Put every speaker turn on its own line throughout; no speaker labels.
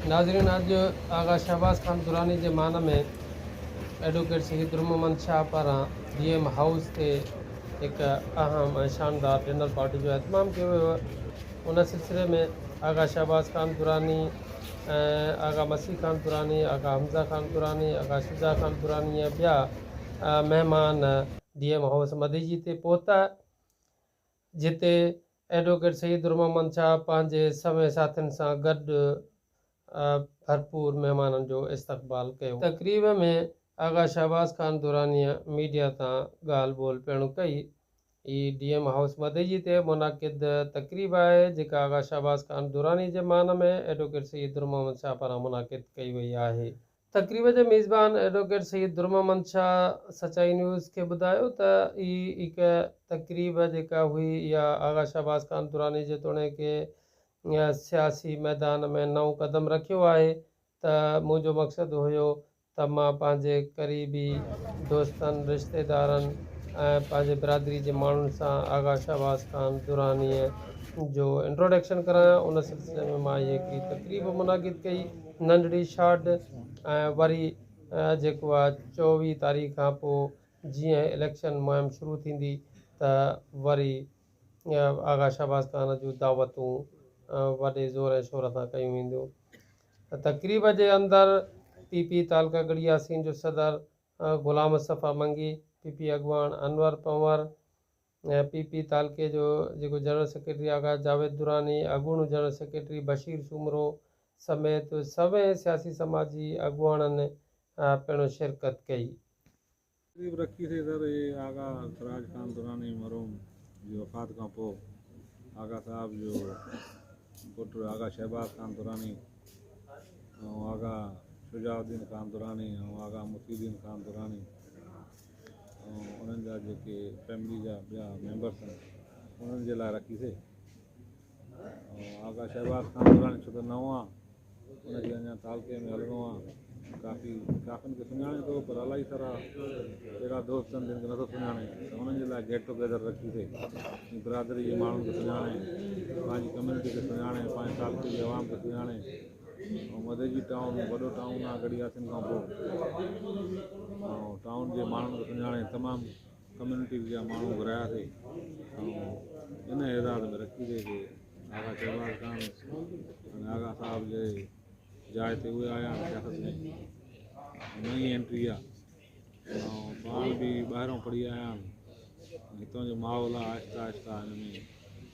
ناظرين اڄ آغا شهباز خان دراني جي مان ۾ ايڊووڪيٽ شهيد روح محمد شاهه پاران جي ايم هائوس تي هڪ اهم ۽ شاندار ڊنر پارٽي جو اهتمام ڪيو ويو ان سلسلي ۾ آغا شهباز خان دراني ۽ آغا مسيح خان دراني آغا حمزا خان دراني آغا شجاع خان دراني ۽ ٻيا مهمان جي ايم هائوس مديجي تي پهتا جتي ايڊووڪيٽ سيد الرحمن شاهه پنهنجي سوين ساٿين سان گڏ ڀرپور مهمانن جو استقبال ڪيو. تقريب ۾ آغا شهباز خان درانيء ميڊيا سان ڳالهه ٻولهه پڻ ڪئي. هي ڊي ايم هائوس مدئجي تي منعقد تقريب آهي، جيڪا آغا شهباز خان دراني جي مان ۾ ايڊووڪيٽ سيد الرحمن شاهه پاران منعقد ڪئي وئي آهي. تقريب جي ميزبان ايڊووڪيٽ سيد درمحمد شاهه سچائي نيوز کي ٻڌايو ته هي هڪ تقريب جيڪا هئي اها آغا شهباز خان دراني جيتوڻيڪ سياسي ميدان ۾ نئون قدم رکيو آهي ته منهنجو مقصد هيو ته مان پنهنجي قريبي دوستن، رشتيدارن ۽ پنهنجي برادري جي ماڻهن سان آغا شهباز خان دراني جو انٽروڊڪشن ڪرايان ان سلسلي ۾ مان هي هڪڙي تقريب منعقد ڪئي. ننڍڙي شاٽ ۽ وري جيڪو آ چوويهه تاريخ کان پو جيئن اليڪشن مهم شروع ٿيندي ته وري آغا شهباز خان جون دعوتون وڏي زور ۽ شور سان ڪيون وينديون تقريب جي اندر پي پي تعلقه ڳڙهي ياسين جو صدر غلام مصطفي منگي پي پي اڳواڻ انور پنور پي پي تعلقي جو جيڪو جنرل سيڪريٽري آغا جاويد دراني، اڳوڻو جنرل سيڪريٽري بشير سومرو سميت سوين سياسي سماجي اڳواڻن پڻ شرڪت ڪئي. تقريب
رکي سيدر اي آغا سراج خان دراني مرحوم جي وفات کان پوء آغا صاحب جو پٽ آغا شهباز خان دراني ۽ آغا شجاع الدين خان دراني ۽ آغا محي الدين خان دراني انهن جا جيڪي فيملي جا ٻيا ميمبر اٿن انهن جي لاء رکيسي ۽ آغا شهباز خان دراني ڇو ته نئون آ ان کي اڃا تعلقي ۾ هلڻو آ ڪافي ڪافين کي سڃاڻي ٿو پر الائي سارا اهڙا دوست اهن جن کي نٿو سڃاڻي ته انهن جي لاء گيٽ ٽوگيدر رکيسي ۽ برادري جي ماڻهن کي سڃاڻي پنهنجي ڪميونٽي کي سڃاڻي پنهنجي تعلقي جي عوام کي سڃاڻي مديجي ٽائون وڏو ٽائون آهي گڏي هاٿين کان پوء ٽائون جي ماڻهن کي سڃاڻي تمام ڪميونٽي جا ماڻهو گهراياسي ان اعزاز ۾ رکي ڏي جي آغا شهباز خان ۽ آغا صاحب جي جاء تي اهي آيا سياست ۾ نئي انٽري آهي ۽ پاڻ به ٻاهران پڙهي آيا آهن هتان جو ماحول آهي آهستي آهستي هن ۾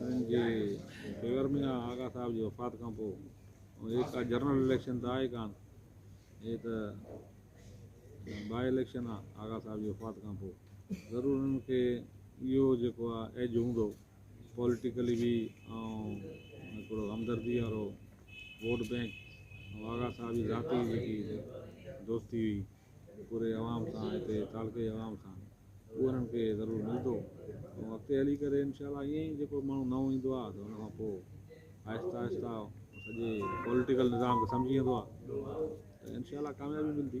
انهن جي فيور ۾ آ. آغا صاحب جي وفات کان پوء هي ڪا جنرل اليڪشن ته آهي ڪانه، هي ته باء اليڪشن آ. آغا صاحب جي وفات کان پوء ضرور انهن کي اهو جيڪو آ ايج هوندو پوليٽيڪلي به ۽ هڪڙو همدردي وارو ووٽ بينڪ ۽ آغا صاحب جي ذاتي جيڪي دوستي هئي پوري عوام سان هتي تعلقي عوام سان اهو انهن کي ضرور ملندو ۽ اڳتي هلي ڪري انشاء الله ائين ئي جيڪو ماڻهو نئون ايندو آهي ته ان کان پوء آهستي آهستي سڄي پوليٽيڪل نظام کي سمجهي ويندو آهي ته انشاء الله ڪاميابي ملندي